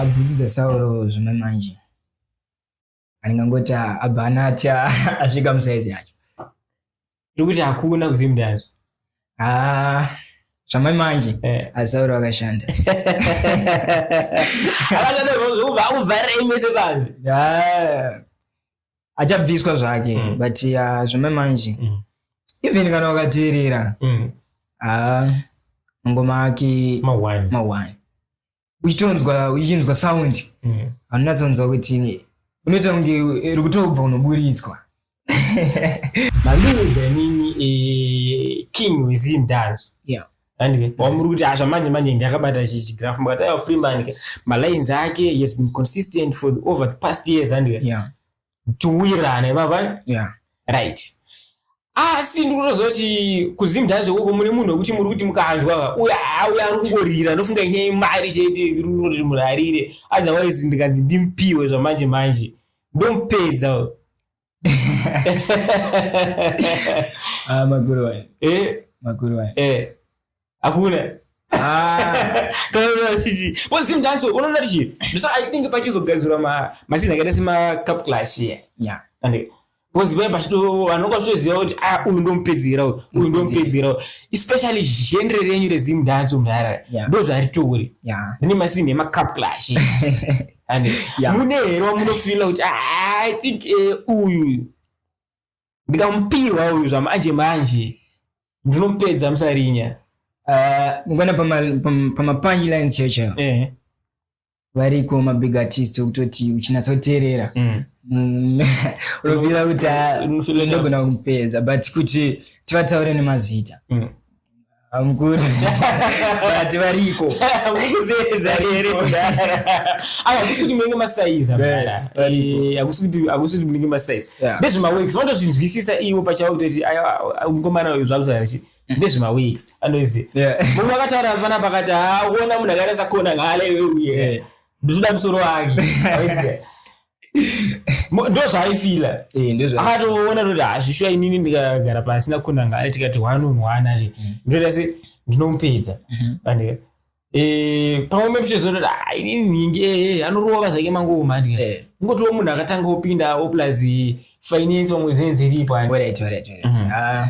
bhutsu dzasauro zvimwe manje andingangoti abva anati asvika musaizi yacho tiri kuti hakuna kuzimu ndazvo zvamai manje eh. asauro akashanda akashanda zvokubva akuvharira imese panzi achabviswa zvake mm. but uh, zvome manje mm. even kana wakateerera mm. uh, ngoma ake mawani uchitonzwa uchinzwa sound mm. anonatsonzwa kuti unoita kunge iri kutobva unoburitswa maluza nini eh, king wezimdanzo yeah. handike wamuri kuti asha manje manje ndakabata chigraph mukati aiwa freeman ke malines ake he has been consistent for the, over the past years handike yeah. tiwirirane mava yeah. right asi ndikutozoti kuzimdhazve koko mune munhu wekuti muri kuti mukanzwa uya auya ari kungorira ndofunga inyaya imari chete irioti munhu arire otherwise ndikanzi ndimpiwe zvamanje manje ndomupedza ah, makuru wani eh? makuru wani eh. hakuna unoona tichi so i think pachizogarisirwa mazina akaita semacup clash iye bcause vaya pachitovanonga vachitoziva kuti a uyu ndomupedzera uyu uyu ndomupedzera uyu especially genre renyu rezimu dance mudhara ndo zvaritouri rine masini emacup clash mune here wamunofila kuti ah, i think eh, uyu ndikamupihwa uyu zvamanje manje ndinomupedza musarinya ah, ngona pamapanji lines checho eh. variko mabig artist okutoti uchinatsa kuteerera mm. Mm. unovira kuti ah, ndogona kumupedza but kuti tivataure nemazita mm. amukuru vati variko mukuzeza here hakusi kuti munenge masaiza hakusi kuti hakusi kuti munenge masaiza ndezvemaweeks vanotozvinzwisisa ivo pachavo kutoti mukomana uyu zvakusaarichi mm. ndezvemaweeks anozi mumwe akataura pana pakati haona munhu akaita sakona ngaaleuye ndozoda musoro wake ndozvaaifila eh, akatoona toti hazvishuwa ah, inini ndikagara pasi nakunanga ari tikati one on one ari mm. ndoita se ndinomupedza mm-hmm. pandika eh, pamwe mepichezototi ah, inini nhingi ee eh, anorova zvake mangoma ndika ngotiwo munhu akatanga opindawo plus finance pamwe zenze iripo ani mm-hmm. ah.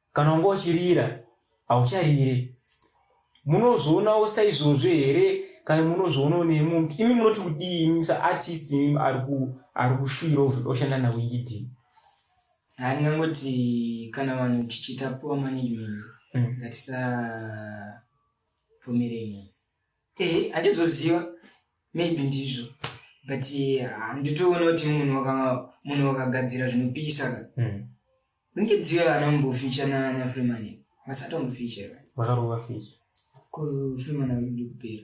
kana wanga uchirira haucharire munozvionawo saizvozvo here kana munozvionawo nemwe muti imi munoti kudii imi saartist imi ari kushuvira kuzoda kushanda nawingidii handingangoti kana vanhu tichiita poor management mm. ngatisabvumirei eh, handizoziva maybe ndizvo but handitoona kuti munhu munhu wakagadzira zvinopisa ka hmm. kunge dziyo ana mboficha nana freeman vasati vamboficha vakarova ficha kufreeman akuda kupera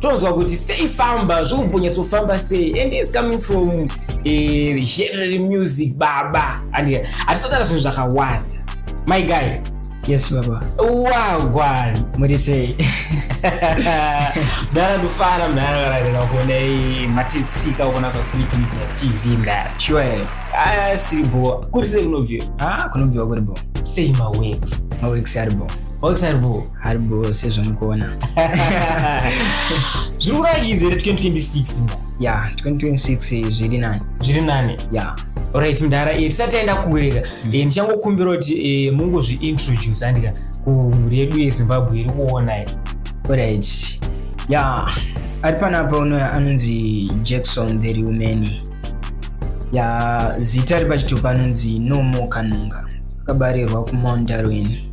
tonzwa kuti sei famba zvokumbonyatsofamba sei and is coming from eh, general music baba and hatisotaura zvinhu zvakawanda my guy yes baba wagwan muri sei mdara ndofara mdara vararira kuona matitsika ukona kwasleep tv mdara sure ah, stiri bo kuri sei kunobviwa ah, kunobviwa kuri bo sei mawex mawex ari bo mawex ari bo haribro sezvamukuona zviri kurakidza here 2026 ya 2026 zviri nani zviri nani ya orit mdara eh, tisati aenda kureka mm. eh, ndichangokumbira kuti eh, mungozviintroduce andika kumhuri yedu yezimbabwe iri kuonai orit ya ari panapa uno anonzi jackson the reumeni ya zita ari pachitupa anonzi nomo kanunga akabarirwa kumount darwin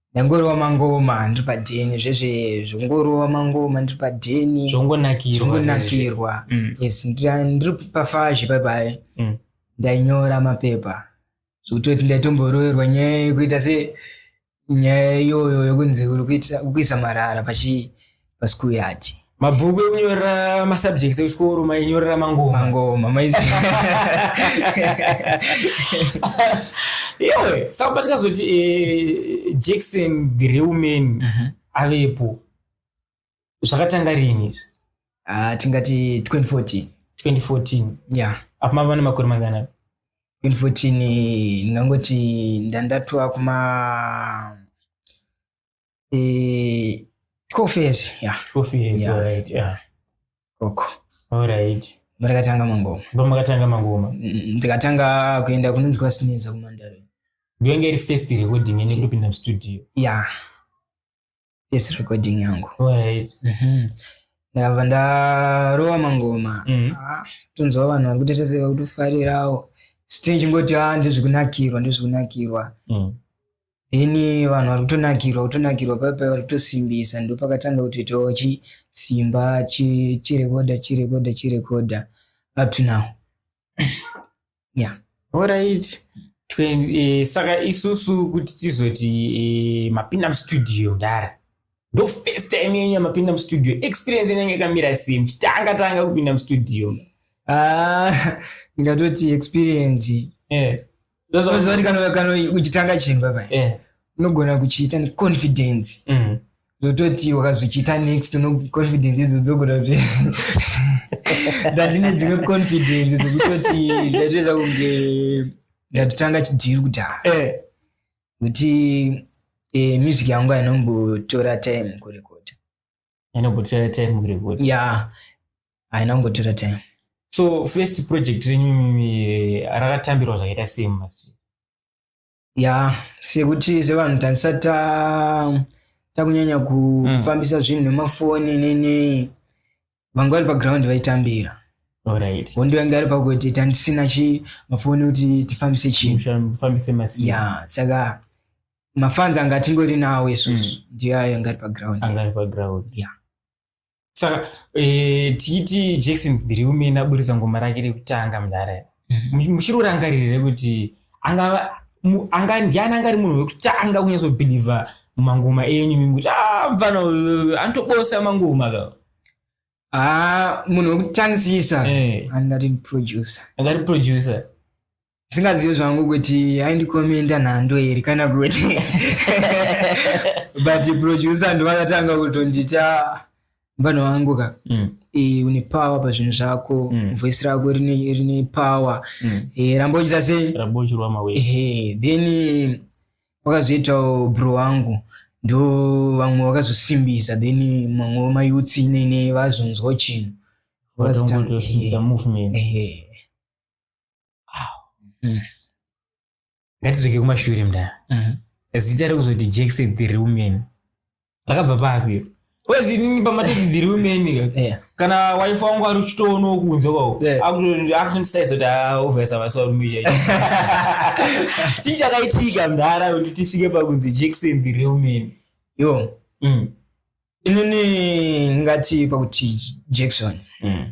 ndangorova mangoma ndiri padheni zvezve zvongorova mangoma ndiri padheni zvongonakirwa mm. yes ndiri pafazhe paipai mm. ndainyora mapepa zvokutoti ndaitomboroverwa nyaya yekuita se nyaya iyoyo yokunzi uri kuisa marara pachii paschool yard mabhuku ekunyorera masubjects ekuchikoro mainyorera mangoma mangoma maizi iwe saka patikazoti eh, jackson the real man Mhm. avepo zvakatanga rini izvi Ah, tingati 2014 2014 yeah apo mava nemakore mangana 2014 ndingangoti ndandatwa kuma eh, 12 years yeah 12 years Yeah. alright yeah koko alright ndakatanga mangoma ndomakatanga mangoma Mm, ndikatanga kuenda kunonzi kwasineza kumandare ndiyonge iri first recording yenyu ndopinda mustudio yeah yes recording yangu alright Mhm. ndakabva ndarova mangoma Mhm. Ah, tonzwa vanhu vari kutetezeka kuti ufarirawo sitinchingoti a ndezvikunakirwa ndezvikunakirwa Mm. ini vanhu vari kutonakirwa kutonakirwa paipai vari kutosimbisa ndo pakatanga kutoitawo chi simba chi- chirekoda chirekoda chirekoda up to now yeah Alright. Twen- eh, saka isusu kuti tizoti eh, mapinda mustudio mdara ndo first time yenyu yamapinda mustudio experience yenyu yanga yakamira sei muchitanga tanga kupinda mustudio Ah, ndingatoti experience eh. Ndozvati kana kana uchitanga chimba pai. Eh. Unogona kuchiita ne confidence. Mm. Zototi wakazochiita next no confidence idzo dzogona kuti ndandine dzimwe confidence dzekutoti ndatoita kunge ndatotanga chidhiri kudhara. Eh. Kuti eh, music yangu ainombotora time kurekoda. ainogotora time kuri kuti ya haina kungotora time so first project renyu eh, rakatambirwa zvakaita sei mumastreet ya sekuti sevanhu tanisati ta- takunyanya kufambisa zvinhu nemafoni nenei vangu vari paground vaitambira alright hondo yange ari pakuti tandisina chi mafoni kuti tifambise chinhu kufambisa mastreet ya saka mafans anga tingori nawo isusu mm. ndiyo ayo angari paground angari paground yeah saka eh, tichiti jackson dhiriumene aburitsa ngoma rake rekutanga mudhara mm-hmm. muchiri urangaririre kuti anga ndiani angari munhu wekutanga kunyatsobhilivha mangoma enyu mimi kuti ah, mfana anotobosa mangoma ka ah, munhu wekutanzisa eh. angari producer angari producer zvingazive zvangu kuti aindikomenda nhando here kana kuti but producer ndovakatanga kutondita mvana wangu ka mm. e, une power pazvinhu zvako mm. voice rako rine, rine power mm. e, ramba uchita sei e, then wakazoitawo bro wangu ndo vamwe vakazosimbisa then mamwe vemayutsi inene vazonzwa chinhu vakazotanga mm. ngatidzoke kumashure mdara mm. zita rekuzoti jackson the real man rakabva papi kwezi inini pamatoti the real man yeah. kana wife wangu ari uchitoonawo kunze kwako yeah. akutondisaisa kuti aovesa vasivarume chii chakaitika mdara kuti tisvike pakunzi jackson the real man yo mm. inini ngati pakuti jackson mm.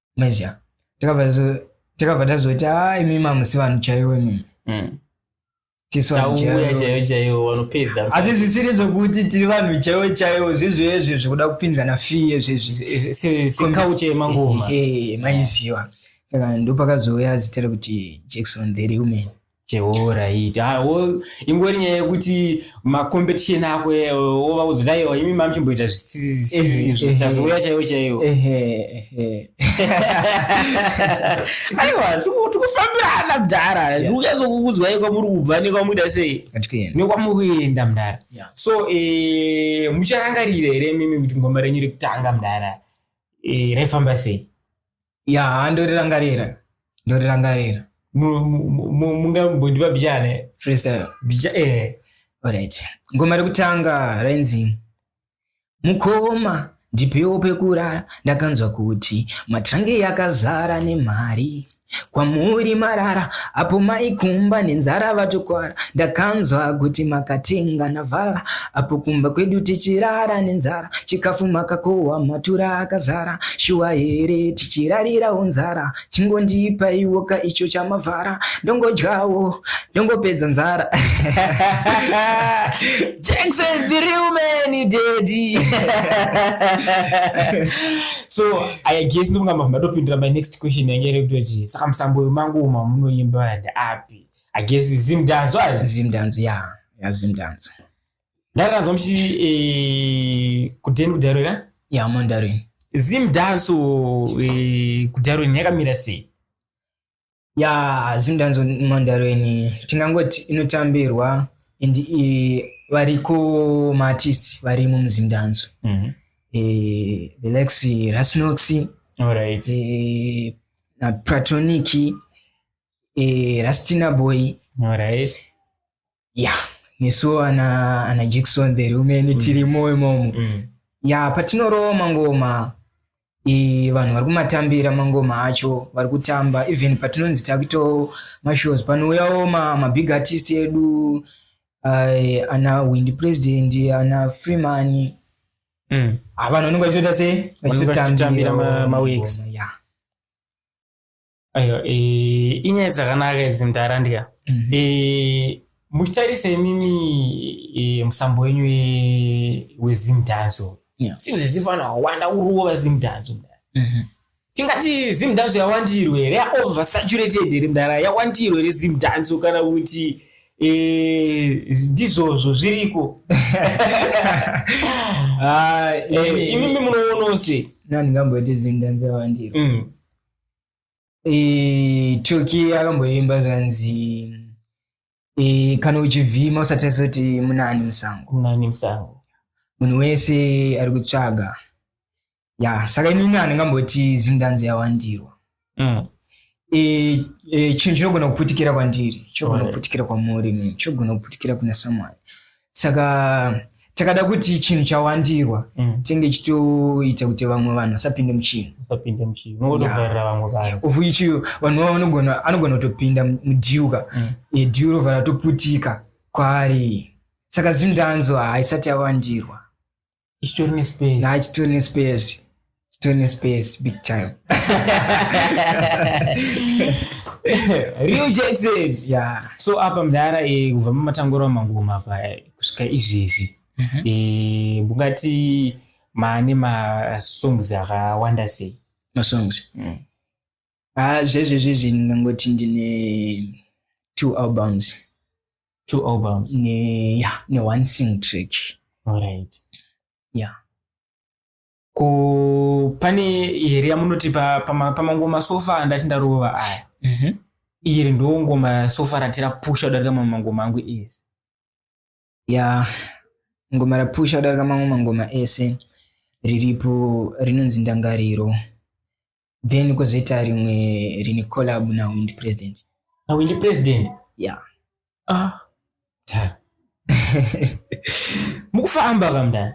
maiziva takabva tazoti a imi mamusi vanhu chaiwo imimi mm. asi zvisiri zvokuti tiri vanhu chaiwo chaiwo zvezvezve zvekuda kupinzana fiye zvezvezvekauchemangoma maiziva saka ndopakazouya zita rekuti jackson the real man chehoo right ah, ingori nyaya yekuti macompetition ako eh, wova kudzira iwo imi mamuchimboita zvisizvitazouya chaiwo chaiwo aiwa tikufambirana mdhara ndikunyatsokukudzwa ye kwamuri kubva nekwamuita sei nekwamuri kuenda mdhara so eh, mucharangarira here mimi kuti ngoma renyu rekutanga mdhara eh, raifamba sei ya ndorirangarira ndorirangarira mungambondipa bijane freestyle bija eh alright ngoma rekutanga rainzi mukoma ndipewo pekurara ndakanzwa kuti matrange yakazara nemari kwamuri marara apo maikumba nenzara vatokwara ndakanzwa kuti makatenga navara Apo kumba kwedu tichirara nenzara, chikafu makakohwa matura akazara, shuwa here tichirarirawo nzara, chingondipaiwo ka icho chamavhara, ndongodyawo ndongopedza nzara. Jackson the real man daddy. so I guess ndovanga mavamba topindira my next question yange iri kutoti saka musambo wemangu uma munoimba and api? I guess zimdanzo ari zimdanzo ya. Yeah. yazi ndanzwa ndari ndanzwa muchiti eh, kudheni kudarwira ya mandarin zim danso eh, kudarwini yakamira sei ya zim danso mandarin tingangoti inotambirwa and eh, variko maartist varimo muzim danso mm -hmm. eh, the lex rasnox right. eh, na pratonic eh, rastina boy right. ya nesuwo ana ana jackson the rumeni mm. tiri moyo imomo mm. ya patinorowa mangoma e, vanhu vari kumatambira mangoma acho vari kutamba even patinonzi takuitawo mashows panouyawo mabig artist edu uh, ana wind president ana freeman mm. avanhu ah, vanenge vachitoita sei vachitotambira maweeks yeah. aiwa eh, inyaya dzakanaka idzi mdara ndika mhm. eh, muchitarise imimi eh, musambo wenyu wezimdanzo seems as if vanhu vakawanda uruwo vazimdanzo mhm. tingati zimdanzo yawandirwe here yaoversaturated here mdara yawandirwe here zimdanzo kana kuti Eh, ndizvozvo zviriko ah, eh, imimi munoonose nandingamboite zvinhu ndanzavandiro mm. eh, toki akamboimba zvanzi eh, kana uchivhima usatarise kuti munani musango munani musango munhu wese ari kutsvaga ya saka inini handingamboti zimdanzi yawandirwa mm. Eh, eh, chinhu chinogona kuputikira kwandiri chinogona Right. kuputikira kwamuri inini chinogona kuputikira kuna someone saka takada kuti chinhu chawandirwa mm. tenge chitoita kuti vamwe vanhu vasapinde muchinhu usapinde muchinhu unongotovharira vamwe vanhu of which vanhu vavo vanogona anogona kutopinda mudhiuka mm. e, dhiu rovhara toputika kwaari saka zimdanzo haisati yawandirwa chitori nespace na chitori nespace chitori nespace big time real jackson yeah so apa mdara eh, kubva mumatangura mangoma apa eh, kusvika izvezvi mhm. eh, mungati maane masongs akawanda sei masongs mm. ah zvezvezvezvi ndingangoti ndine two albums two albums ne ya ne one sing track alright ya ko pane here yamunoti pamangoma sofa andati ndarova aya mhm. iri ndongoma sofa ratira pusha kudarika mamwe mangoma angu ese ya ngoma rapusha kudarika mamwe mangoma ese riripo rinonzi ndangariro then kozoita rimwe rine collab na wind president na wind president ya ah tara mukufamba kamdani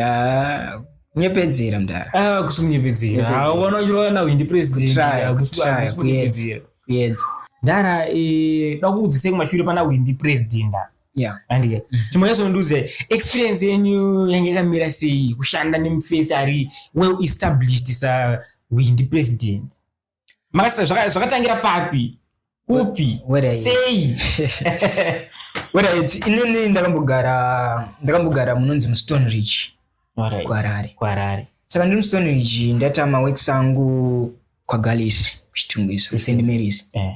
Ah, kunyepedzera mdara Ah, kusikunyepedzera Nyepedzera. Ah, ukaona uchirova nawo indi president Kutraya, ah, kusi- kutraya, kusikunyepedzera kuyedza ndara eh, dakuudzisei kumashure pana windi president ah. yeah andike chimwe chacho nondiudza experience yenyu yange yakamira sei kushanda nemufesi ari well established sa windi president makasa zvakatangira papi kupi sei inini ndakambogara ndakambogara munonzi mustone rich kuharare kuharare saka ndiri mustone rich ndataama works angu kwagalisi kuchitungisa kusend marys eh.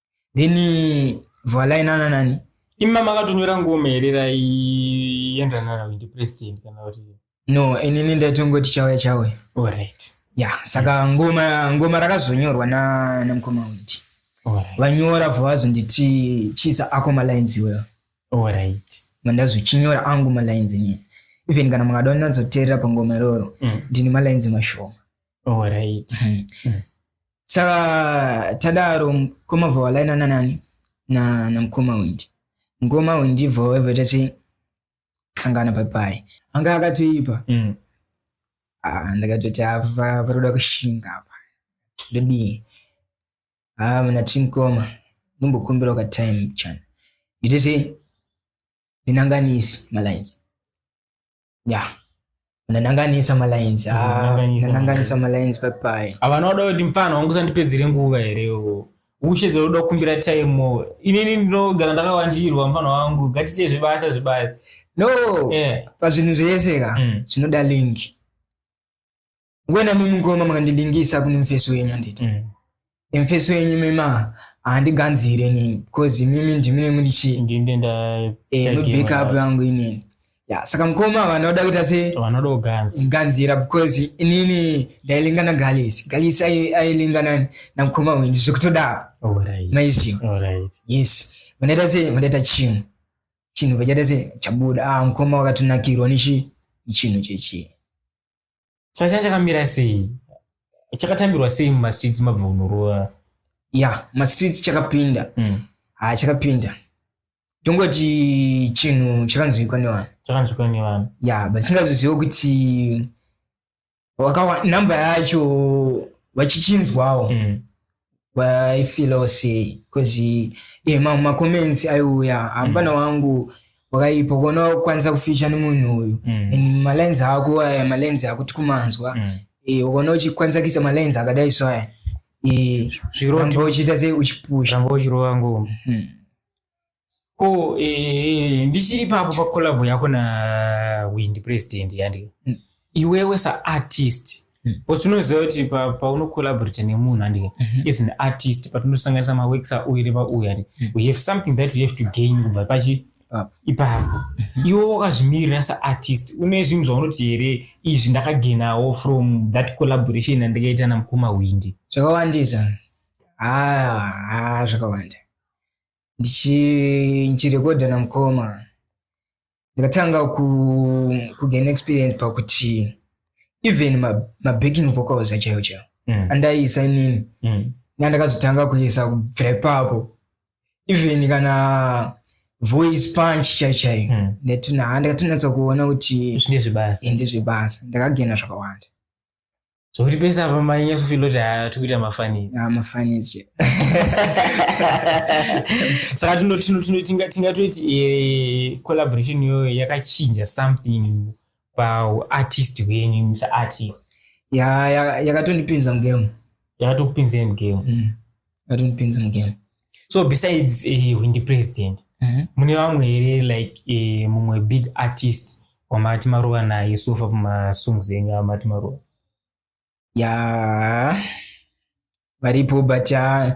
then vhalai nana nani imi mama akatonyora ngoma here raienderana na ndi president kana kuti no inini ndaitongoti chauya chauya alright ya yeah, saka ngoma ngoma rakazonyorwa na namukoma witi vanyora bva vazonditi chisa ako malines iweyo alright mandazochinyora angu malines inini even kana makada ndinazoteerera pangoma iroro mm. ndini malines mashoma alright mm. mm. saka tadaro mkoma vhawalaina nanani na, na mkoma wenji mkoma wenji vhaweva tati sangana papai anga akatoipa mm. ah, ndakatoti apa paroda kushinga apa ndodii ah, mna timkoma nombokumbira ka time chana nditese ndinanganisi malines ya nananganisa malines ah, Nananganisa nananganisa malines papai havana kuda kuti mfana wangu usandipedzere nguva here iwo ushe dzauda kukumbira time inini ndinogara ndakawandirwa mfana wangu ngatiite zvebasa zvebasa no Eh, pazvinhu zvese ka Mm. zvinoda link wena mimi ngoma makandidingisa kune mfesi wenyu handiti mm. mfesi wenyu mima handiganzire nini because mimi ndimine muri chii mubackup eh, yangu inini ya saka mukoma vanoda kuita se vanoda kuganzira because inini ndailinga na galisi galisi ailinga na na mukoma wenyu zvekutoda alright maizi alright yes vanoita se vanoita chinhu chinhu vachaita se chabuda ah mukoma wakatonakirwa nichi chinhu chechi saka changa chakamira sei chakatambirwa sei mumastreets mabva kunorova ya mastreets chakapinda mm. ha chakapinda tongoti chinhu chakanzwikwa nevanhu chakanzwikwa nevanhu ya but singazoziva kuti number yacho vachichinzwawo mm. waifila sei bcause e mamwe macomments aiuya hapana mm. wangu wakaipa kuona wakukwanisa kuficha nemunhu uyu mm. and malines ako aya malines ako tikumanzwa mm. e, ukaona uchikwanisa kuisa malines akadai so aya e, zviromba uchiita sei uchipusha ramba uchirova ngoma mm. ko eh, ndichiri papo pakolabho yako nawindi president yandi mm. iwewe saartist mm. bcause unoziva kuti paunocollaborata pa nemunhu andi mm -hmm. is an artist patinosanganisa maworks auyu nepauyu andi mm. we have something that we have to gain kubva pachi ah. ipapo mm -hmm. iwe wakazvimirira saartist une zvinhu zvaunoti here izvi ndakagenawo from that collaboration andikaita namukoma windi zvakawandisa ah, ah, zvakawanda ndichirekodha namukoma ndikatanga kugain experience pakuti even mabacking vocals achayo chayo mm. andaiisa inini mm. nandakazotanga kuisa kubvira ipapo even kana voice punch chaichai mm. ndakatinatsa kuona kuti ndezvebasa ndakagena zvakawanda zvokuti pese apa mainyasofila kuti haa tiri kuita mafani ah, mafani zve saka tingatoiti eh, collaboration iyoyo yakachinja something paartist wenyu musaartist yakatondipinza mugame yakatokupinzei mugame mm. vatonipinza mugame so besides uh, windi president mm -hmm. mune vamwe here like uh, mumwe big artist wamati maruva naye sofa pamasongs enyu amati maruva ya yeah. varipo but uh,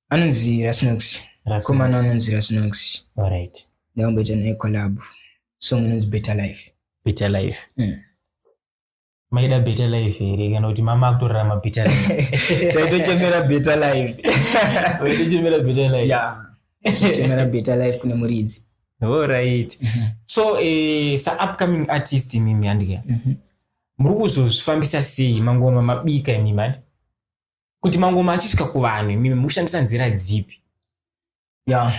anonzi rasnox komana anonzi rasnox right ndakumboita naye collab song inonzi better life better life mm. maida better life here kana kuti mama akutorarama better life taitochemera better life taitochemera better life yeah chemera better life kune muridzi all right mm -hmm. so eh, sa upcoming artist mimi andike mm -hmm. muri kuzozvifambisa sei mangoma mabika imimi kuti mangoma achisvika kuvanhu imimi mukushandisa nzira dzipi ya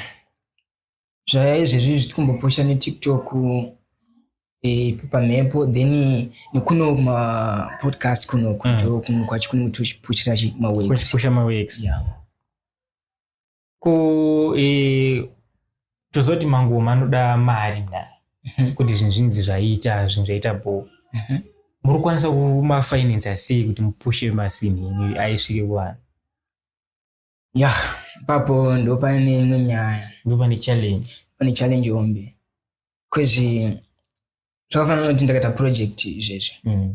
zvaya izvezvi zvitikumbopusha netiktok eh, pamhepo then nekuno mapodcast kuno kuto kuno kwacho kuno tichipushira chi- maweeks kuchipusha maweeks Yeah. ko eh, tozoti mangoma anoda mari mna Mhm. kuti zvinhu zvinzi zvaita zvinhu zvaita bho Mhm. muri kukwanisa kumafinansa sei kuti mupushe masini enyu aisvike kuvanhu ya papo ndo pane imwe nyaya ndo pane challenge pane challenge hombe kwezi zvakafanana nokuti ndakaita project izvezvi mm.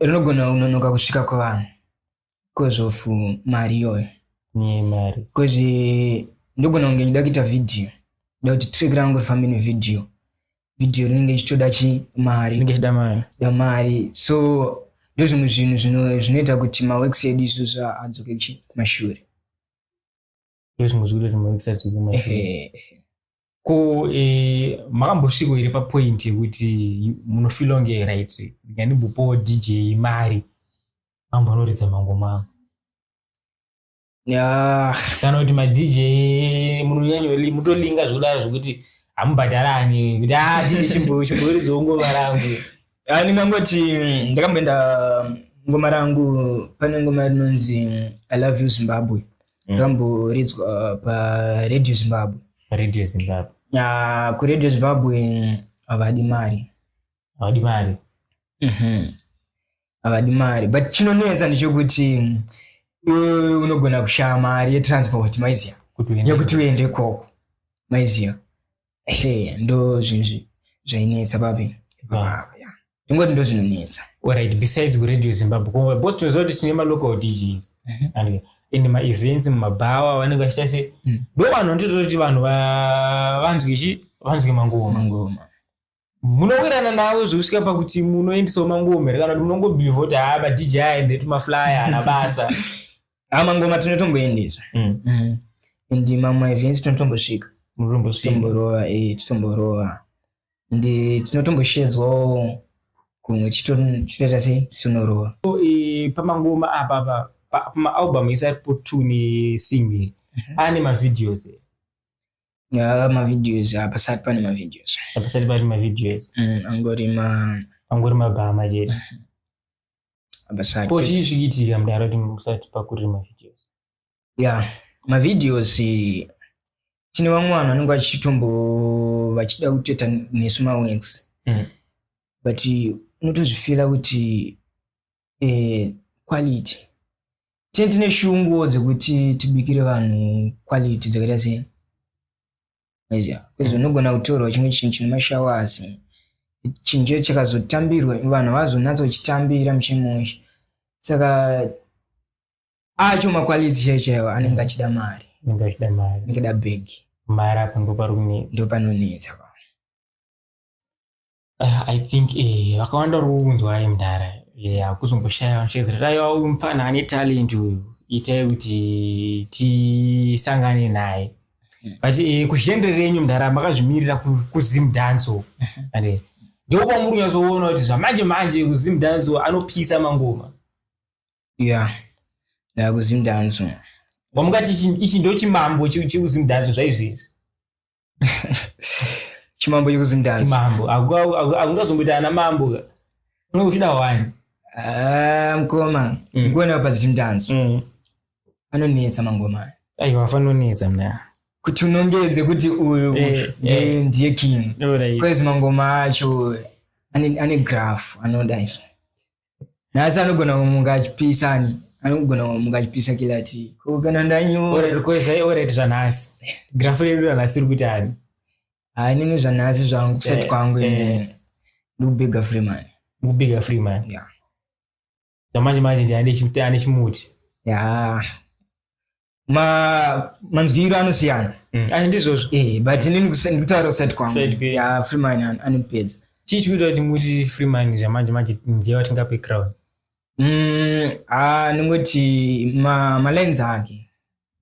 rinogona kunonoka kusvika kuvanhu bcause of mari iyoyo mari kwezi ndogona kunge ndida kuita vhidhiyo nda kuti trick rangu rifambe nevidhiyo video rinenge richitoda chi mari da mari so ndozvimwe zvinhu zvinoita kuti maworks edu isusu adzoke kumashure ndozvimwe zviri kuti maworks adzoke kumashure ko eh, makambosviko here papoint yekuti munofila kunge right ndikandimbopowo dj mari ambonoridza mangoma angu yeah. kana kuti madj mutolinga zvekudaro zvekuti hamubhadharani kuti ah, dj chimbo chimbo rizongova rangu ah, ndingangoti ndakamboenda ngoma rangu pane ngoma rinonzi i love you zimbabwe mm. rakamboridzwa mm. paradio zimbabwe radio zimbabwe ya kuradio zimbabwe havadi mari havadi mari mhm. havadi mari but chinonetsa ndichokuti mm, iwe unogona kushaya mari yetransport maiziva Kuti uende- yekuti uende ikoko maiziva ehe ndo zvinhu zvi- zvainetsa papi Ah. tingoti ndo zvinonetsa Alright, besides kuradio zimbabwe ko boss tinoziva kuti tine malocal djs Mhm. and ende maevents mumabhawa vanenge vachita se Mm. ndo vanhu nditoda kuti vanhu va- vanzwe chi vanzwe mangoma mangoma munowirirana navo zvekusvika pakuti munoendisawo mangoma here kana kuti munongobhilivha kuti haa madj aende tumaflyer hana basa haa mangoma tinotomboendesa mm. mm. and mamwe events tinotombosvika munotombosvitomborova eh, titomborowa and eh, tinotomboshedzwawo kumwe chitoita sei titonorowa eh, pamangoma apapa pamaalbum isaripo two nesingle mhm. ane mavideos here Ah, mavideos hapasati pane mavideos hapasati pane mavideos mm, angori ma angori mabhama chete hapasati ko chii zvikiitika mudaro kuti musati pakuriri mavideos ya mavideos tine vamwe vanhu vanenge vachitombo vachida kutoita nesu mawex mm. but unotozvifila kuti eh, quality tine tine shungu dzekuti tibikire vanhu quality dzakaita sei maiziva because mm. unogona kutorwa chimwe chinhu chine mashowers chinhu chacho chakazotambirwa vanhu havazonatsa kuchitambira muchimusha saka acho makwaliti chaiwo chaiwo anenge achida mari anenge achida mari anenge da bhegi mari apo ndopanonetsa ndopanonetsa uh, i think eh, vakawanda uri kuunzwa ayi mdara eh, akuzongoshaya vanoshedzera aiwa uyu mupfana ane talent uyu itai kuti tisangane naye hmm. but eh, kuzhendre renyu mdara makazvimirira kuzim dance uku hmm. and eh, ndiko kwamuri kunyatsoona kuti zvamanje manje kuzim dance anopisa mangoma ya yeah. ndakuzim dance wamukati ichi ndochimambo chekuzim dance zvaizvezvi chimambo chekuzimdanzimambo akungazomboita ana mambo unenge uchida wani ah, mkoma mm. ngona pazimdanzo mm. anonetsa mangoma aiwa afanonetsa mna kuti unongedze kuti uyu eh, eh. ndiye king bcause mangoma acho ane graph anoda iso nhasi anogona kumuka achipisa ani anogona kumuka achipisa kila ti ko kana ndanyorerekwezvaioreti zvanhasi grafu redu ranhasi iri kuti ani haa inini zvanhasi zvangu kusati eh, kwangu eh. ndikubiga freeman ndikubiga freeman zvamanje manje ndiane chimuti ya manzwiro anosiyana mm. ah, ndizvozvo eh, but inini ndikutaura kusati kwangu ya freeman anipedza chii chikuita kuti muti freeman zvamanje manje ndiye watingape crown mm, ah, ndingoti malines ake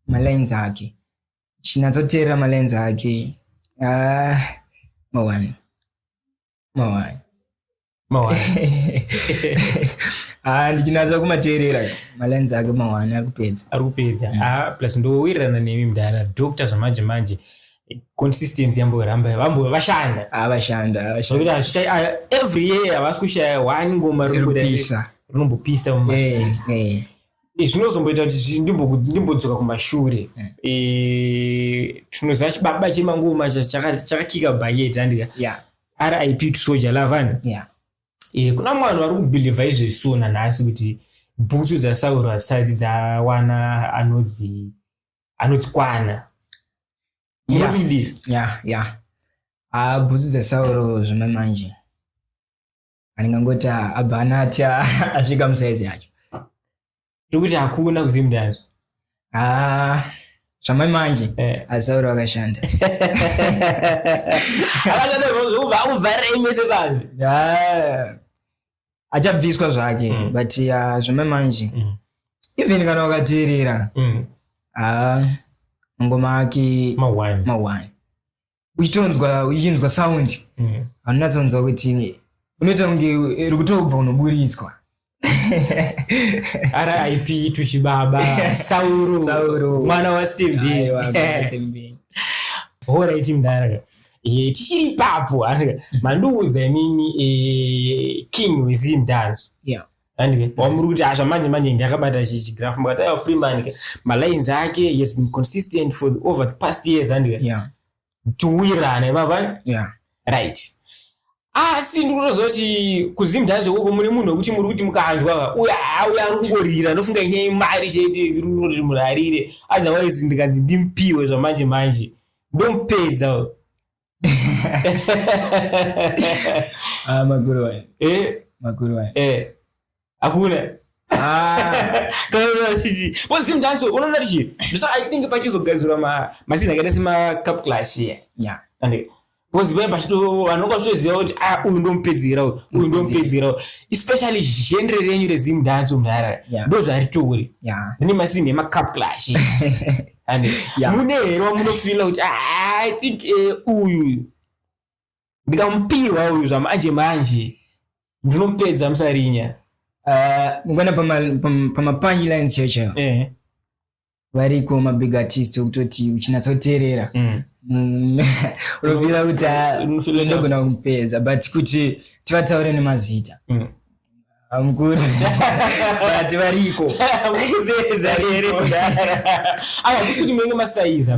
malines ake chinatsoteerera malines ake ah, mawani mawaya mawaya ah ndichinatsa kumateerera malenzi ake mawani ari kupedza ari kupedza mm. ah plus ndowirirana nemi mdara doctor zvamanje manje consistency yamboramba vambo vashanda ah vashanda ah, vashanda ah, every year havasi kushaya one ngoma rinombopisa rinombopisa mumastreets eh, eh. zvinozomboita kuti ndimbodzoka kumashure mm. e, tinoziva chibaba chemangoma chakakika bhaketi andika rip to soja lavan e, kuna mwana vari kubhilivha izvesuo nanhasi kuti bhutsu dzasauro hasati dzawana anodzi anodzikwana munotidira ya ya ah, bhutsu dzasauro zvimwe manje andingangoti ah, abva anatya asvika musaizi yacho tokuti hakuna kuziva mudazvo ah, zvamai manje eh. asauri vakashanda ah, achabviswa zvake mm. but ah, zvamai manje mm. even kana wakateerera mm. ngoma ake mawani uchitonzwa uchinzwa sound mm. haunyatsonzwa kuti unoita kunge iri kutobva unoburitswa rip tuchibaba sauro mwana wastembei horaiti mdara eh, tichiri ipapo mandiudza imimi eh, king wezimdanzo yeah. handike wamuri kuti asha manje manje ndakabata chigraph mukataiwa freeman ke malines ake he has been consistent for the, over the past years handike yeah. tiwirane mava yeah. right asi ndikutozoti kuzimdhazi ukoko mune munhu wekuti muri kuti mukanzwa uya auya ari kungorira ndofunga inyai mari chete iri kuti munhu arire otherwise ndikanzi ndimpiwe zvamanje manje ndomupedza ah, maguru waya eh? maguru waya eh. hakuna ah. kanaachiti unoona tichi so i think pachizogadzirwa mazina akaita semacup class iye yeah. and because vaya pachito vanonga vachitoziva kuti a uyu ndomupedzera uyu uyu ndomupedzera uyu especially genre renyu rezimu dance mudhara ndo zvaritouri rine masini emacup clash and yeah. mune here wamunofila kuti ah, i think eh, uyu ndikamupihwa uyu zvamanje manje ndinomupedza musarinya ah, ngona pamapanji lines checho eh. variko mabig artist okutoti uchinatsa kuteerera mm. mm. unovira kuti ah, ndogona kumupedza but kuti tivataure nemazita mm. amukuru vati variko mukuzeza here hakusi kuti munenge masaiza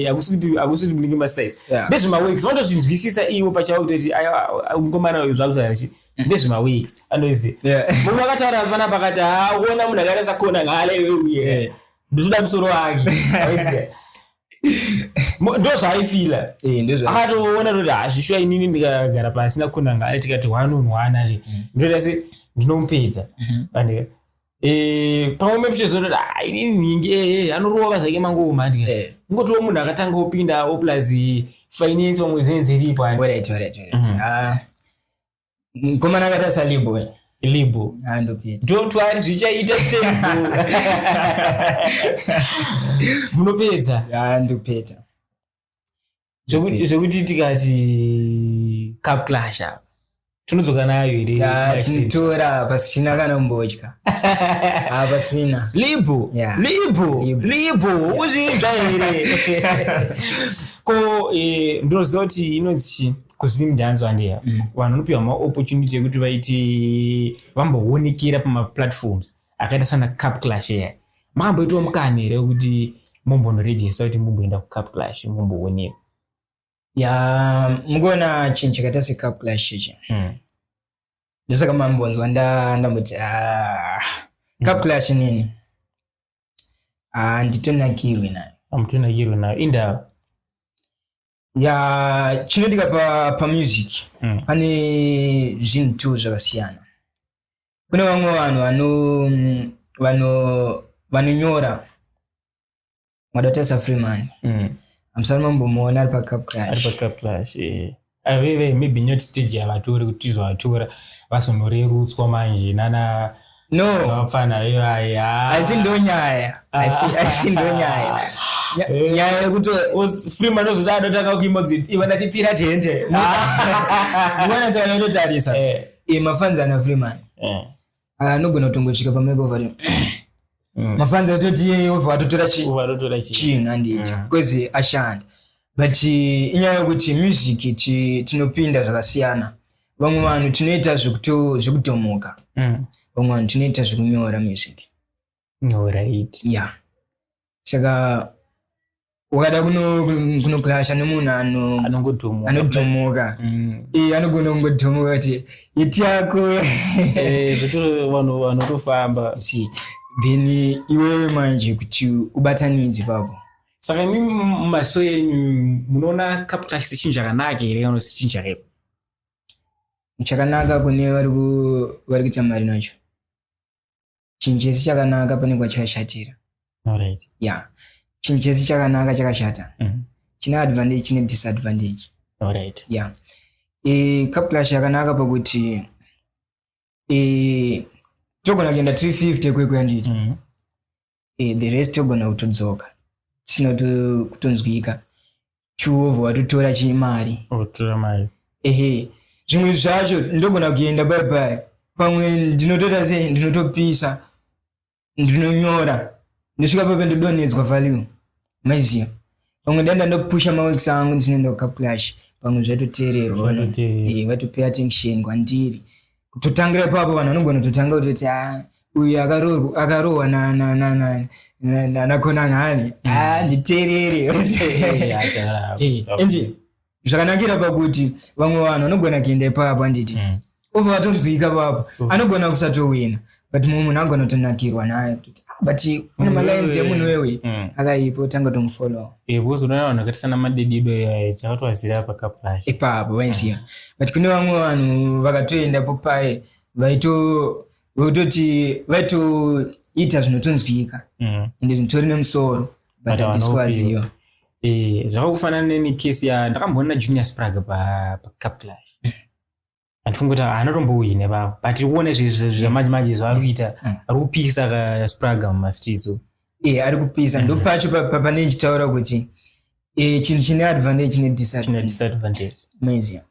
hakusi kuti hakusi kuti munenge masaiza ndezvemaweeks vanotozvinzwisisa ivo pachavo kutoti mukomana uyu zvakusaarichi mm. ndezvemaweeks anoizi mumwe akataura pana pakati haona munhu akaita sakona ngale uye ndozoda musoro wake ndozvaaifila eh, akatoona toti hazvishuwa ah, inini ndikagara pasi nakunanga ari tikati one on one ari mm. ndoita se ndinomupedza mm-hmm. pandika eh, pamwe mepichezototi ah, inini nyingi ee eh, anorova zvake mangoma ndika ingotiwo munhu akatanga opindawo plus finance pamwe zenze iripo ani mm-hmm. ah. mkomana akatarisa libo libo don't worry zvichaita munopedza andopeta zvekuti tikati cup clash apa tinodzoka nayo here tinotora pasina kana kumbotya ah, pasina libo libo libo ukuzvinzva here ko eh, ndinoziva kuti inonzi chii kusim ndanzwa handiya mm. vanhu vanopiwa maopportunity ekuti vaiti vamboonekera pamaplatforms akaita sana cup clash eya makamboitwa mukana here wekuti mombonorejista kuti mumboenda kucup clash mombooneka ya mukuona chinhu chakaita secup clash ichi mm. ndosaka mambonzwa ndamboti ah, cup mm. clash nini handitonakirwi ah, nayo amutonakirwi nayo indawo ya chinoitika pa, pa music mm. pane zvinhu two zvakasiyana kune vamwe vanhu vano vano vanonyora madotesa freeman mm. amusana mambomuona ari pacup crash ari pacup crash eh. aveve ah, maybe not stage yavatori kuti tizovatora vazonorerutswa manje nana no vapfana ivaye asi ndonyaya asi ndonyaya eh. nyaya yekuti sprim anozodai anotanga kuimodzi iva ndatipfira tende mwana tana inotarisa eh. eh, mafanzi ana freeman anogona kutongosvika pamaekova mm. mafanzi atoti yeyova atotora chinhu andiiti kwezi ashanda but eh, inyaya yokuti music tinopinda zvakasiyana vamwe vanhu tinoita zvekutomoka mm. vamwe vanhu tinoita zvekunyora music nyorait ya saka wakada kunoklasha nemunhu anodhomoka mm. eh, anogona kungodhomoka kuti iti yako eh, vanhu vanotofamba then iwewe manje kuti ubatanidze papo saka imi mumaziso enyu munoona cup cash sechinhu chakanaka here kana kuti sechinhu chakaipa chakanaka kune vari ku- vari kuita mari nacho chinhu chese chakanaka pane kwachakashatira alright ya chinhu chese chakanaka chakashata Mhm. chine advantage chine disadvantage alright ya e, cup clash yakanaka pakuti e, togona kuenda 350 kwekuyanditi Mhm. eh, the rest yogona kutodzoka tisina kutonzwika chuovo watotora chimari otora mari ehe zvimwe zvacho ndogona kuenda bye bye pamwe ndinotoita sei ndinotopisa ndinonyora ndosvika pape ndodonhedzwa value maiziva pamwe danda ndokupusha maweeks angu ndisine ndokaplash pamwe zvatoteererwa eh, vatopay attention kwandiri kutotangira ipapo vanhu vanogona kutotanga kutoti ah, uyu akarohwa nanakonangani handiteereri zvakanakira pakuti vamwe vanhu vanogona kuenda ipapa handiti mm. ova vatonzwika papa mm. anogona kusatowina but mumwe munhu anogona kutonakirwa naye kuti ah, but une mm. malines emunhu wewe mm. akaipo tanga tomufollow eh, because unoona vanhu vakaita sana madedido iyaye chakatovaziva apa kaplash ipapo vaiziva but kune vamwe vanhu vakatoenda popaye vaito vaitoti vaitoita zvinotonzwika ende zvinotori nemusoro batadiswaziwa eh, zvakakufanana neni case ya ndakamboona junior sprag pacup clash mm. andifunga kuti haana tombouyi nevavo but tiri kuona zvamanje mm. manje zvaari kuita mm. ari kupisa kasprag mumastreets e ari kupisa ndo pacho pane ndichitaura kuti e, chinhu chine advantage nedisadvantage maizia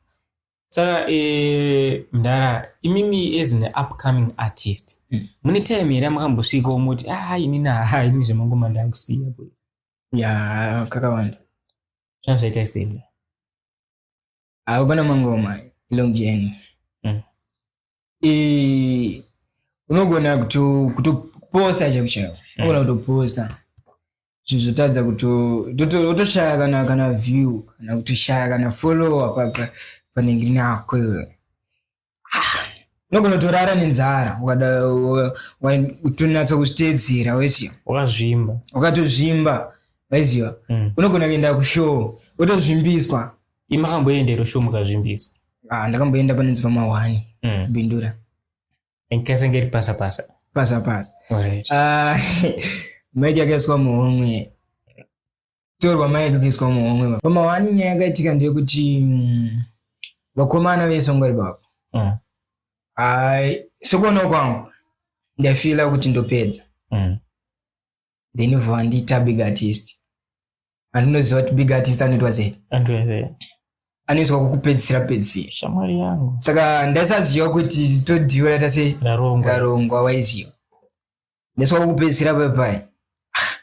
saka eh, mdara imimi as an upcoming artist hmm. mune time here amukambosvika omoti ah ini naa ini zvemangoma ndakusiya boys ya kakawanda zvanga zvaita sei akugona mangoma long journey eh, unogona kuto- kutoposta chaivo chaivo unogona kutoposta zvinhu zvotadza kuto- toto- wotoshaya kana kana view kana kutoshaya kana follower pa- pa- panenge rinako iwe Ah, unogona kutorara nenzara ukada- wa- wa- utonatsa kuzviteedzera weziva wakazvimba ukatozvimba waiziva Mm. unogona kuenda kushow wotozvimbiswa imakamboenda iro show mukazvimbiso ah ndakamboenda panonzi pamahwani mm. bindura ndikasenge ri pasa pasa pasa pasa right. uh, ah, maiki akaiswa muhomwe torwa maiki akaiswa muhomwe pamahwani nyaya yakaitika ndeyekuti mm, vakomana vesongwari baba mm. ai sokuona kwangu ndaifila kuti ndopedza mm. then vobva vandiita big artist andinoziva kuti big artist anoitwa sei anoiswa kukupedzisira pedzisira shamwari yangu saka ndaisaziva kuti todiwa raita se rarongwa waiziva ndaiswa kukupedzisira papai ah,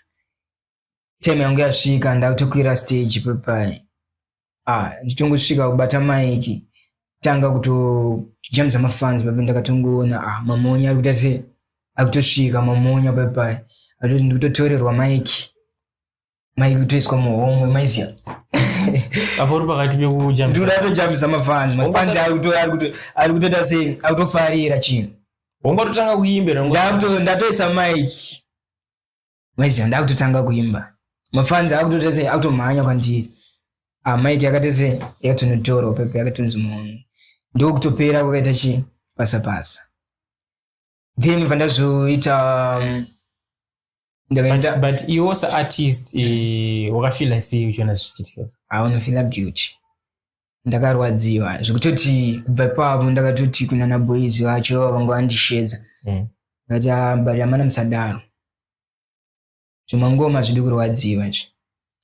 time yangu yasvika ndakutokwira stage papai ah ndichitongosvika kubata maiki tanga kutojambisa mafans papi ndakatongoona ah mamonya arikuita se akutosvika mamonya papi pai atoti ndikutotorerwa maiki maiki kutoiswa muhomwe maiziya apo uri pakati pekujambisa ndikuda kutojambisa mafans mafans Wongosara- arikuto- arikuto- arikutoita se akutofarira chinhu wongatotanga kuimbira ndakuto- ndatoisa maiki maiziva ndakutotanga kuimba mafanzi akutotese akutomhanya kwandiri ah, mike yakatese yakatonotora upepe yakatonzi munhu ndokutopera kwakaita chi pasa pasa then pandazoita um, ndakaenda but, but iwo saartist eh, wakafila sei uchiona zvichiitika aunofila guilty ndakarwadziwa zvekutoti kubva ipapo ndakatoti kunana boys vacho vanga vandishedza mm. ndikati ah, but amana musadaro zvimangoma zvidi kurwadziwa izvi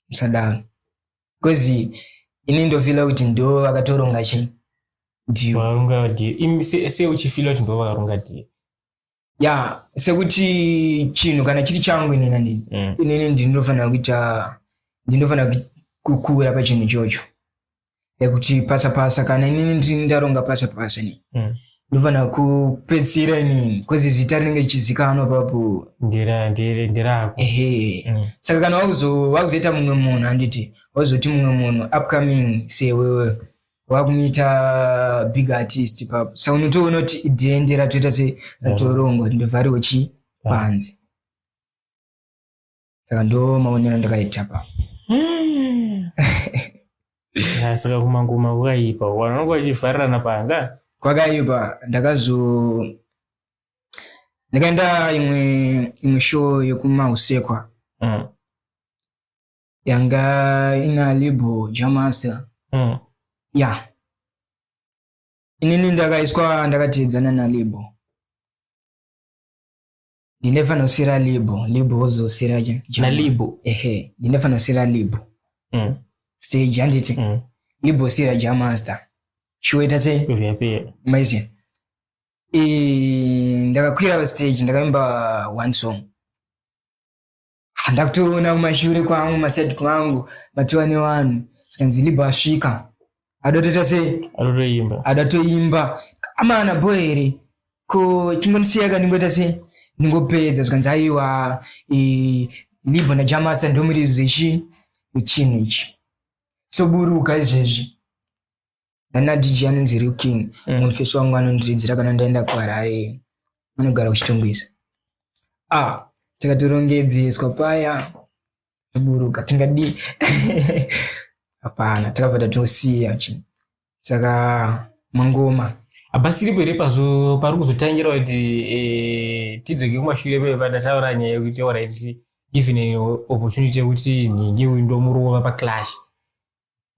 musadaro bcause ini ndofila kuti ndo vakatoronga chii seuchifila kuti ndo vakaronga die ya sekuti chinhu kana chiri changu inini andini mm. inini ndinofanira kuita ndinofanira kukura pachinhu ichocho ekuti pasa pasa kana inini ndini ndaronga pasa pasa ni mm. ndofanira kupedzisira inini bcause zita rinenge richizikanwa papo ndirako ehe mm. saka kana wakuzoita mumwe munhu anditi wazoti mumwe munhu upcoming sewewe wakumuita big artist ipapo sa unotoona kuti idhende ratoita se ratorongwa kuti ndovhariwe chii panze saka ndo maonero ndakaita papo Ah, saka kumangoma kukaipa wanonga vachivharirana panga kwakaipa ndakazo ndakaenda imwe imwe show yekumahusekwa Mm. yanga ina label jamaster mm. yeah inini ndakaiswa ndakateedzana nalabel ndinefana kusira label label wozosira nalabel ehe ndinefana kusira label mm. stage handiti mm. label sira jamaster chiwoita se maiziva e, ndakakwira stage ndakaimba one song ndakutoona kumashure kwangu masaid kwangu matiwa nevanhu zikanzi libho asvika adotoita sei adotoimba adotoimba amana bho here ko chingondisiyaka ndingoita sei ndingopedza zvikanzi aiwa libho najamasa ndomurizo ichi ichinhu ichi soburuka izvezvi ana dj anonzi real king mm. mufesi wangu anondiridzira kana ndaenda kuharare anogara kuchitungwiza ah takatorongedzeswa paya taburuka tingadii hapana takabva tatosiya chi saka mangoma hapasiripo here pazo pari kuzotangira kuti eh, tidzoke kumashure pee patataura nyaya yekuti orit given an opportunity yekuti nhingi uyu ndomurova paclash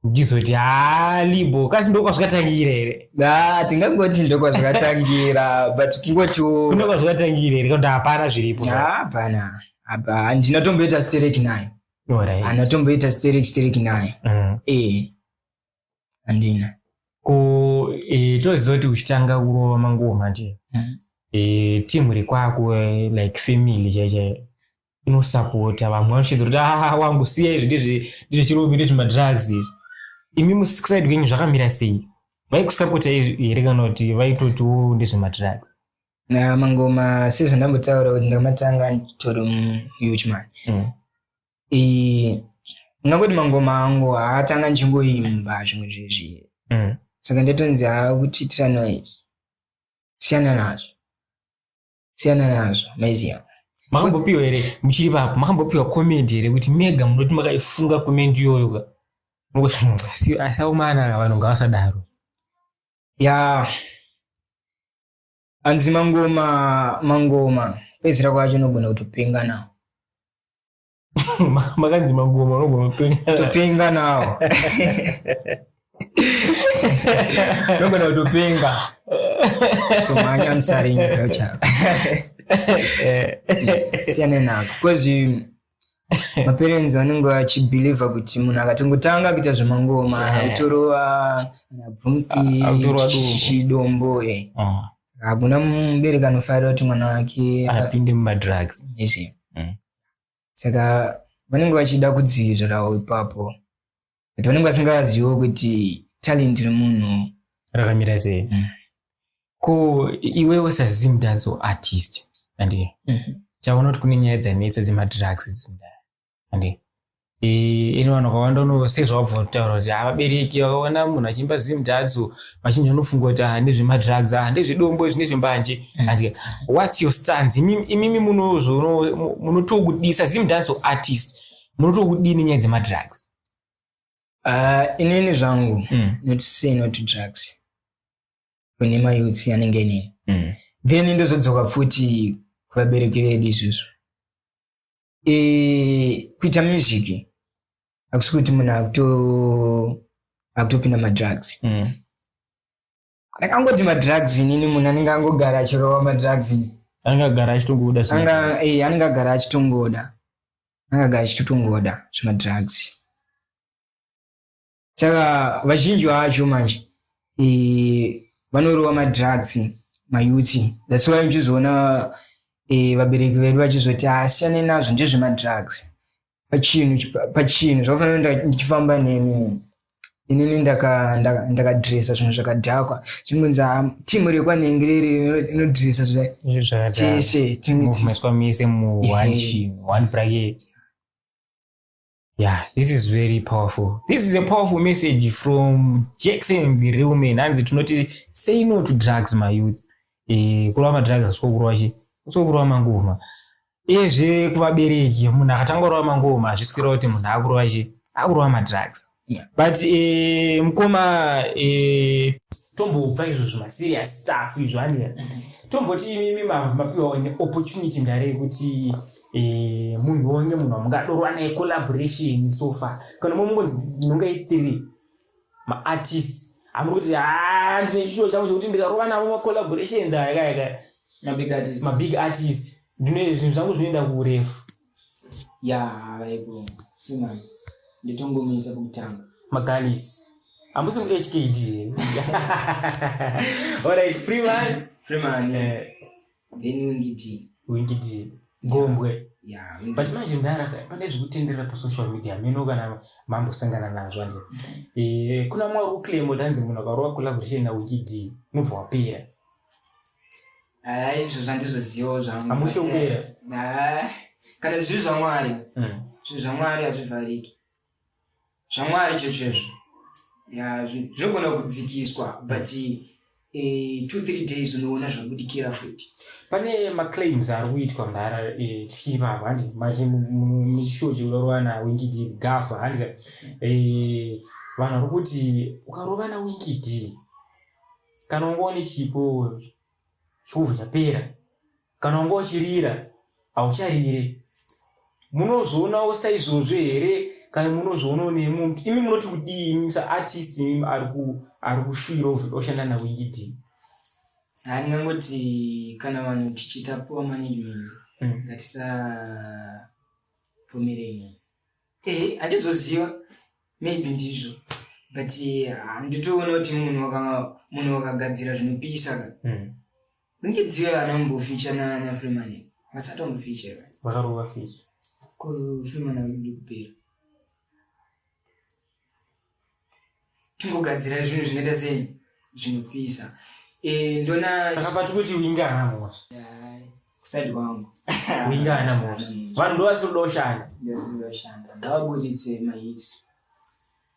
ndizoti haa libo kasi ndokwazvakatangira here ah, tingangoti ndokwazvakatangira but kungotiwo kune kwazvakatangira here kuti hapana zviripo hapana apa handina tomboita sterek nayo handina tomboita sterek sterek nayo mm. eh, handina ko e, toziva kuti uchitanga kurova manguva manje mm. e, timu rekwako like family chaichaiyo unosapota vamwe vanoshedza kuti aa ah, wangu siya izvi ndezvechirombi ndezvemadrugs izvi imi musaidi kwenyu zvakamira sei vaikusapota here kana kuti vaitotiwo ndezvemadrugs na mangoma sezvandambotaura kuti ndakamatanga nditori muhuchman mm. ndingangoti mangoma angu haatanga ndichingoimba zvimwe zvezvi mm. saka ndatonzi haakuchiitira noise siyana nazvo siyana nazvo maiziva makambopiwa here muchiri papo makambopiwa comment here kuti mega munoti makaifunga comment iyoyo ka asaomana vanhu ngavasadaro ya anzi mangoma mangoma pedzisira kwacho unogona kutopenga nawo makanzi magoma unogona kutopenga nawo unogona kutopenga so manya musaringa yochara siyane nako bcause maparents vanenge vachibhilivha kuti munhu akatongotanga kuita zvemangoma eh. autorova anabvumtichidombo eh. ah. hakuna mubereki anofarira kuti mwana wake apinde mumadrugs saka vanenge vachida kudzivirirawo ipapo but vanenge vasingaziviwo kuti talent remunhu rakamira sei mm. ko iwewo sazim dance artist andi mm -hmm. chaona kuti kune nyaya dzanetsa dzemadrugs dzimda andi ino vanhu vakawanda uno sezvawabva kutaura kuti havabereki vakaona munhu achiimba zim dadzo vachinja unofunga kuti ah, ndezvemadrugs ah, ndezvedombo izvi ndezvembanje mm. andike whats your stans imimi munozvo munotokudisa zim danso artist munotokudini nyaya dzemadrugs ah, inini zvangu mm. not say not drugs kune mayouths anenge inini mm. then ndozodzoka futi kuvabereki vedu izvozvo eh, kuita music hakusi kuti munhu akutopinda madrugs mm. ndakangoti madrugs inini munhu anenge angogara achirova madrugs anenge agara achitongoda eh, anenge agara achitongoda anenge agara achitotongoda zvemadrugs saka vazhinji vacho manje e, vanorova madrugs mayuti that's why muchizoona e, vabereki vedu vachizoti asiyane nazvo ndezvemadrugs pachinhu pachinhu zvakafanira ndichifamba nemi inini ndakadresa zvinhu zvakadhakwa zvinonzi ah, timu rekwanenge riri inodresa zvese timuiswa mese muone chinhu one bracket yeah this is very powerful this is a powerful message from jackson the real man hanzi tinoti say no to drugs my youth eh, kurova madrugs asikokurova chi usikokurova mangoma ezve kuvabereki munhu akatanga kurova mangoma hazvisi kureva kuti munhu akurova chi akurova madrugs but eh, mukoma eh, tombobva izvozvo maserious staff izvo andika mm-hmm. tomboti imimi mapiwa one opportunity ndare yekuti Eh, munhu wonge munhu wamungadorwa naye collaboration so far kana momungonzi ndinonga ithree maartist amuri kuti haa ah, ndine chishuwo changu chekuti ndikarova navo macollaborations aya kaya kaya mabig artist ndine zvinhu zvangu zvinoenda kuurefu ya vaipo fimani nditongomisa kutanga magalis ambusi mu hkd alright free man free man yeah. then wingiti wingiti gombwe yeah, but manje mdara pane zvekutenderera pasocial media meno kana mambosangana nazvo ande e, kuna mwa uclaim danzi munhu akarova collaboration nawingidi mubva wapera izvo zvandizozivawo zvangu amutye kupera kana zviri zvamwari hmm. zviri zvamwari hazvivhariki zvamwari chezvezvo ya zvi- zvinogona kudzikiswa but eh, two three days unoona zvabudikira futi pane maclaims ari kuitwa mhara eh, tichivava handi mishuwo chekurorovana wingidi gafa handi ka eh, vanhu vari kuti ukarovana wingidi kana ungoone chipo chobva chapera kana wanga uchirira haucharire munozvionawo saizvozvo here kana munozvionawo nemumwe muti imi munoti kudii imi saartist imi ari kushuvira kuzoda kushanda nawingi dii handingangoti kana vanhu tichiita poor management mm. ngatisabvumirei munhu ehe handizoziva maybe ndizvo but handitoona kuti munhu munhu wakagadzira zvinopisa ka hmm. kunge dziyo ana mboficha nana freeman vasati wamboficha vakarova ficha ko freeman akuda kupera tingogadzira zvinhu zvinoita sei zvinopisa eh, ndona saka pati kuti uinge ana mhosva kuside kwangu winga ana mosha mm. vanhu ndovasidoshanda ndovasidoshanda ndavaburitse mahits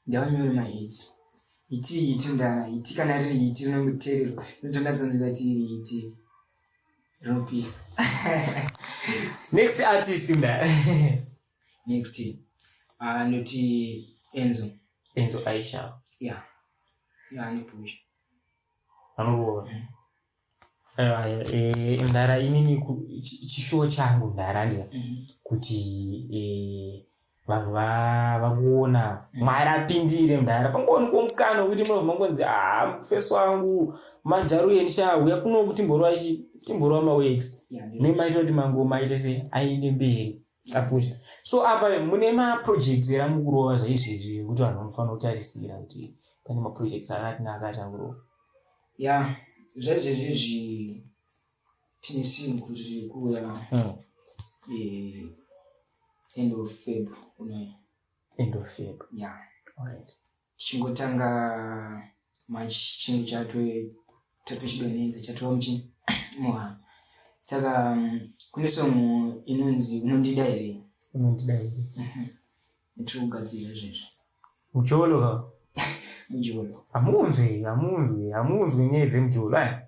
ndavanyore mahits iti iti ndana iti kana riri iti rinongotererwa inotondatsonzika ti iri iti rinopisa next artist mdara next anoti ah, enzo enzo aisha ya yeah. yeah, anopusha anorova mm. Eh, eh, mdara inini chishuwo changu mdara ndiya mm-hmm. kuti eh, vanhu vakuona mm. mwari apindire mdara pangooni komukana wekuti munhu mangonzi haa ah, mufesi wangu madharu yenisha uya kuno kuti mborwa ichi timborwa mawex nemaita kuti mangomaite se aende mberi apusha so apa mune maprojects era mukurova zvaizvezvi ekuti vanhu vanofanira kutarisira kuti pane maprojects akati naakati akurova ya zvaizvezvezvi tine sinhu kuti tiri kuuya hmm. eh, end of feb unoya end of feb ya yeah. alright tichingotanga manje chinge chatochidonenza chatova muchini muhana saka mm, kune song inonzi unondida here unondida here mhm. tiri kugadzirira izvezvi mucholo ka mucholo hamunzwi hamunzwi hamunzwi nyaya dzemujolo aya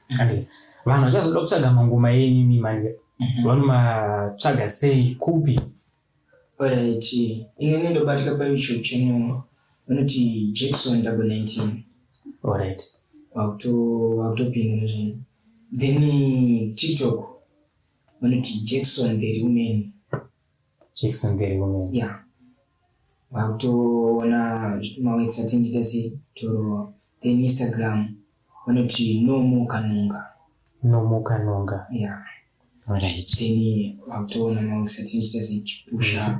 Kandika. Vanhu vachazoda kutsvaga mangoma enyu imi manje. Mhm. Vanomatsvaga sei kupi? Alright. Inini ndobatika pa YouTube channel vanoti Jackson double 19. Alright. Wakuto wakutopinda nezvinhu. Then TikTok vanoti Jackson the real man. checks on very women yeah vakutoona mawebs atinjita se torowa then instagram vanoti nomo kanonga nomo kanonga yeah right then vakutoona mawebs atinjita se chipusha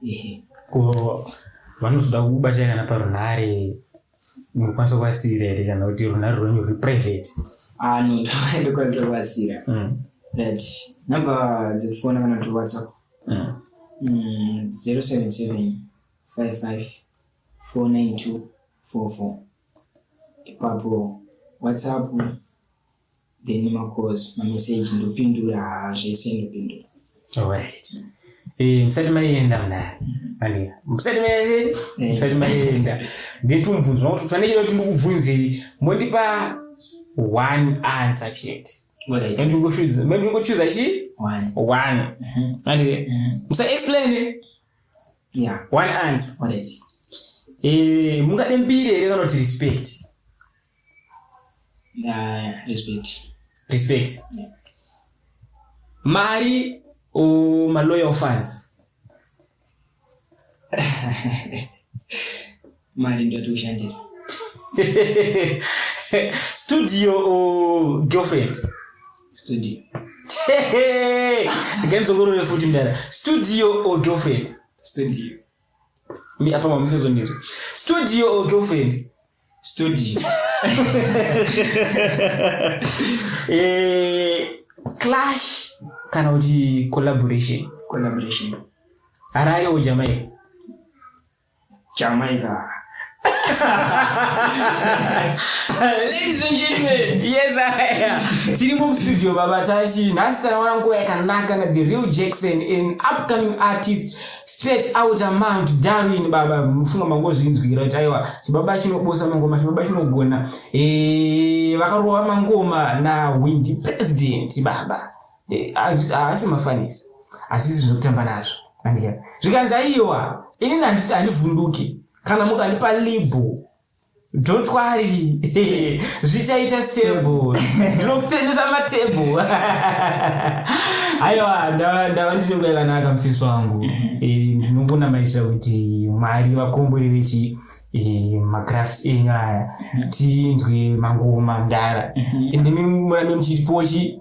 ehe ko vanozoda kubata kana parunhare unokwanisa kuvasiira here kana kuti runhare rwenyu ruri private ah no ndokwanisa kuvasiira mm. that number dzekufona kana kuti whatsapp mm. mm, zero seven seven five five four nine two four four ipapo whatsapp then macalls mameseji ndopindura haa zvese ndopindura alright eh, musati maienda mnaya andika musati maienda musati maienda nditumvunzwa kuti fanekele kuti ndikubvunzei mondipa one answer chete ndingochuza chi one mhm. andika mhm. musa explain yeah one answer alright eh mungade mbiri here kana kuti respect Uh, respect. Respect. Yeah. Mari o ma loyal fans. Mari ndio tushandira. Studio o girlfriend. Studio. Again zongorore futi mdara. Studio o girlfriend. Studio. Atoma musezo ndiri. Studio or girlfriend? Studio. eh, clash kana kuti collaboration. Collaboration. Harare or Jamaica? Jamaica. Ladies and gentlemen, yes I am. Tiri mu studio baba Tashi. Nhasi takawana nguva yakanaka na The Real Jackson an upcoming artist straight out of Mount Darwin baba. Mufunga mangozvinzwira kuti aiwa chibaba chinobosa mangoma chibaba chinogona. Eh vakarova mangoma na Windy President baba. eh, haasi mafanisi asi zvinotamba nazvo andika zvikanzi aiwa inini handiti handivhunduki kana mukandipa libhu don't worry zvichaita stable ndinokutengesa matable aiwa ndava ndinenge yakanaka mufeso wangu mm-hmm. eh, ndinongonamatira kuti mwari vakombori vechi eh, macrafts enyu aya mm-hmm. tinzwe mangoma mdara mm-hmm. ende murame muchitipochi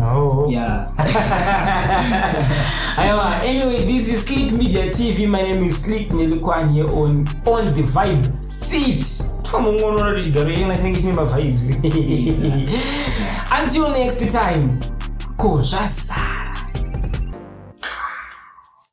Oh. Yeah. Aiwa, anyway, this is Slick Media TV. My name is Slick Nelikwan here on On the Vibe Seat. Twamungonora tichigaro yena chinenge chine mavibes. Until next time. Ko zvazara.